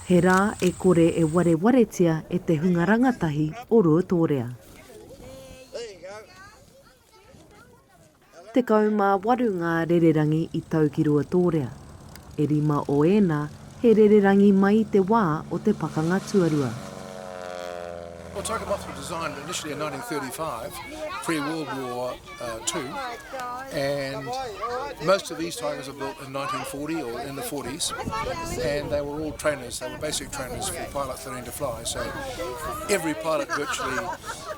He rā e kore e warewaretia e te hunga rangatahi o Ruatōrea. Tekau mā waru ngā rererangi i tau ki Ruatōrea, e rima o ēnā he rererangi mai i te wā o te Pakanga Tuarua. Well, Tokamoth was designed initially in 1935, pre-World War Two, and most of these tigers were built in 1940 or in the 40s, and they were all trainers, they were basic trainers for Pilot 13 to fly, so every pilot virtually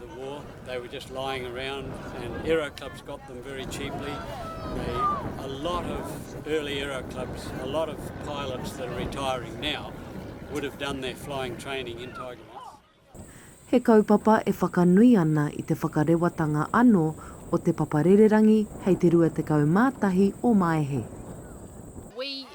the war they were just lying around and era clubs got them very cheaply they a lot of early era clubs a lot of pilots that are retiring now would have done their flying training in tiger moths he kaupapa e whakanui ana i te whakarewatanga ano o te papa rererangi hei te 21 o maehe we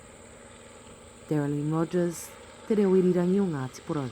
Darylene Rogers, Te Reo Irirangi o Ngāti Porou.